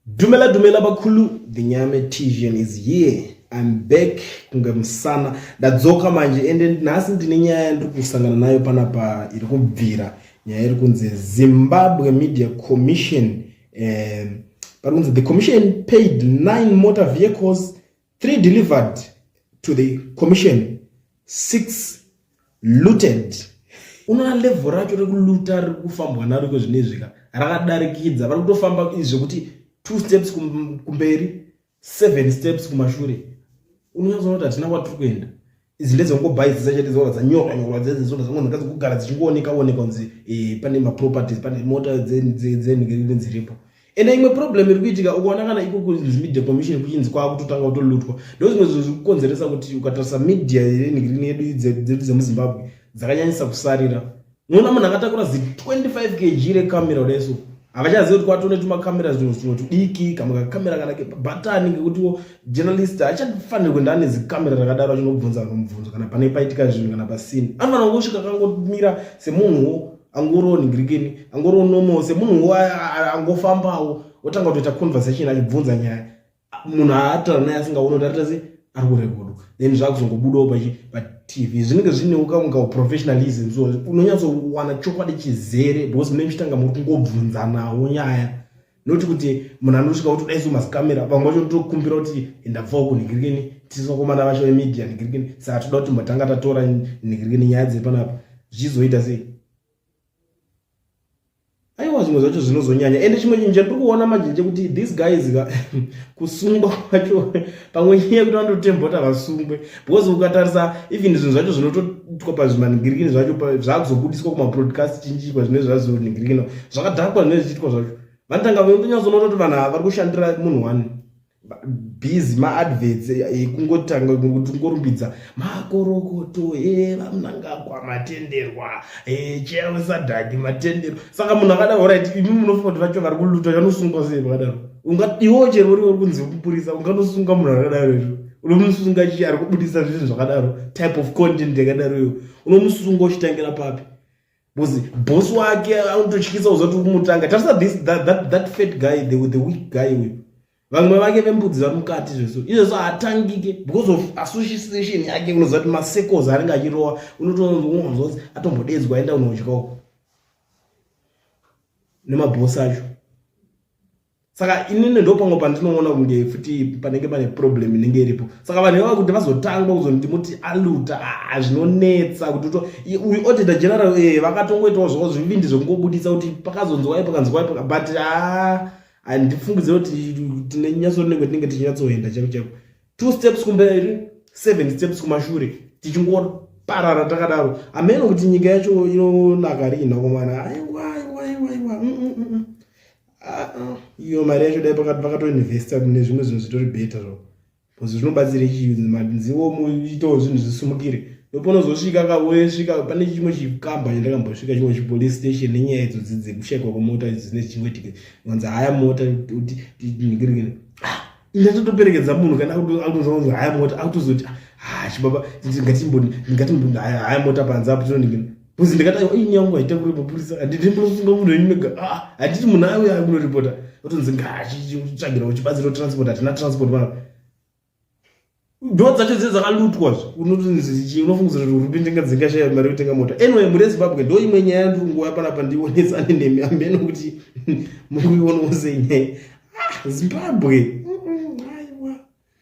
Dumela dumela bakhulu the nyame tijan is here I'm back kunge musana ndadzoka manje ende nhasi ndine nyaya yandiri kusangana nayo panapa iri kubvira nyaya iri kunzi Zimbabwe Media Commission um, pari kunzi the commission paid nine motor vehicles Three delivered to the commission, six looted. Unoona level racho rekuluta riri kufambwa naro iko zvinezvika rakadarikidza vari kutofamba zvekuti two steps kumberi seven steps kumashure unonyatsona kuti hatina kwatiri kuenda Izi ndedzongobuy dzese chete dzoona dzanyorwa nyorwa dzedze dzoda dzangonhaka dzokugara dzichingooneka oneka kunzi eh, pane maproperties pane mota dzenhigiriri dziripo ende imwe problem iri kuitika ukaona kana ikoko media commission kuchinzi kwaakutotanga kutolutwa ndozvimwe zvinhu zviri kukonzeresa kuti ukatarisa media yenhigiriri yedu dzedu dzemuzimbabwe dzakanyanyisa kusarira Muona munhu akatakura zi 25 kg rekamera resu havachazivi kuti kwatone tumakamera zvinhu zvimwe tudiki kamwe kakamera kana kebatani ngekutiwo journalist hachafaniri kuenda ane zikamera rakadaro achinobvunza vanhu mubvunzo kana pane paitika zvinhu kana pasini anofanira kungosvika akangomira semunhuwo angoriwo ningirikeni angoriwo nomo semunhuwo angofambawo otanga kutoita conversation achibvunza nyaya munhu aatara naye asingaone kuti arita sei ari kurekodwa then zvakuzongobudawo patv zvinenge zvinewo kamwe kauprofessionalism so unonyatsowana chokwadi chizere because mune muchitanga muri kungobvunzanawo nyaya noti kuti munhu anosvika kuti dai somazikamera vamwe vacho ndokumbira kuti ndabvawo kunhigirikeni tisokomana vacho vemedia nhigirikeni saka toda kuti mbatanga tatora nhigirikeni nyaya dziri panapa zvichizoita sei aiwa zvimwe zvacho zvinozonyanya ende chimwe chinhu chandiri kuona manje ndechekuti these guys kusungwa kwacho pamwe nyaya yekuti vanototembota vasungwe because ukatarisa even zvinhu zvacho zvinotoitwa pazvimaningirikini zvacho zvakuzobudiswa kumaprodcast chinjikwa zvine zvazoningirikina zvakadhakwa zvine zvichiitwa zvacho vanotanga vanyatsoona kuti vanhu ava vari kushandira munhu wani busy maadverts ekungotanga kungorumbidza makorokoto evamunangagwa eh, matenderwa eh, cheya wesadhaki matenderwa saka munhu akadaro orit imi munofunga kuti vacho vari kuluta vanosungwa sei vakadaro iwo chero uri uri kunzi kupurisa unganosunga munhu akadaro izvo unomusunga chii ari kubudisa zvinhu zvakadaro type of content yakadaro iyo unomusunga uchitangira papi Because boss wake anototyisa uzoti kumutanga. Tarisa this that, that that fat guy the the weak guy uyu. Vamwe vake vembudzi vari mukati zvesu. Izvezvo haatangike because of association yake unoziva kuti masecos anenge achirowa unotoonzwa atombodedzwa aenda unodya uko. Nemabhosi acho. saka inini ndopamwe pandinoona kunge futi panenge pane problem inenge iripo saka vanhu ivava kuti vazotangwa kuzoniti muti aluta ah, zvinonetsa kuti to uyu auditor general e vakatongoitawo zvavo zvivindi zvekungobudisa kuti pakazonzwai pakanzwai but a ah, handifungidzire kuti tine nyatso rinenge tinenge tichinyatsoenda chaiko chaiko two steps kumberi seven steps kumashure tichingoparara takadaro ameno kuti nyika yacho inonaka riina komana aiwa aiwa aiwa aiwa mm, mm, mm, Uh-uh. iyo mari yacho dai pakatoinvesta mune zvimwe zvinhu zvitori beta zvo bcause zvinobatsira chiziwo muitawo zvinhu zvisumukire ndoponozosvika ka wosvika pane chimwe chikamba chandakambosvika chimwe chipolice station nenyaya idzodzi dzekushaikwa kwemota dzine chimwe tike vanzi haya mota kuti ndigirigiri Inda totoperekedza munhu kana akutozonzi haya mota akutozoti ha chibaba ngatimboni ngatimboni haya haya mota panze apo tinondingina bcause ndikatayo i nyaya yangu haita kuripota purisa handiti munosunga munhu wenyu mega ah, handiti munhu ayo yayo kunoripota otonzi ngaachitsvagira uchibatsira transport hatina transport mara ndo dzacho dze dzakalutwa zve unotinzichi unofungidzira kuti hurumende inga dzingashaya mari yotenga mota anyway muri ezimbabwe ndo imwe nyaya yandiri kunguva panapa ndionetsane nemi amene kuti muri kuionawo sei nyaya ah, zimbabwe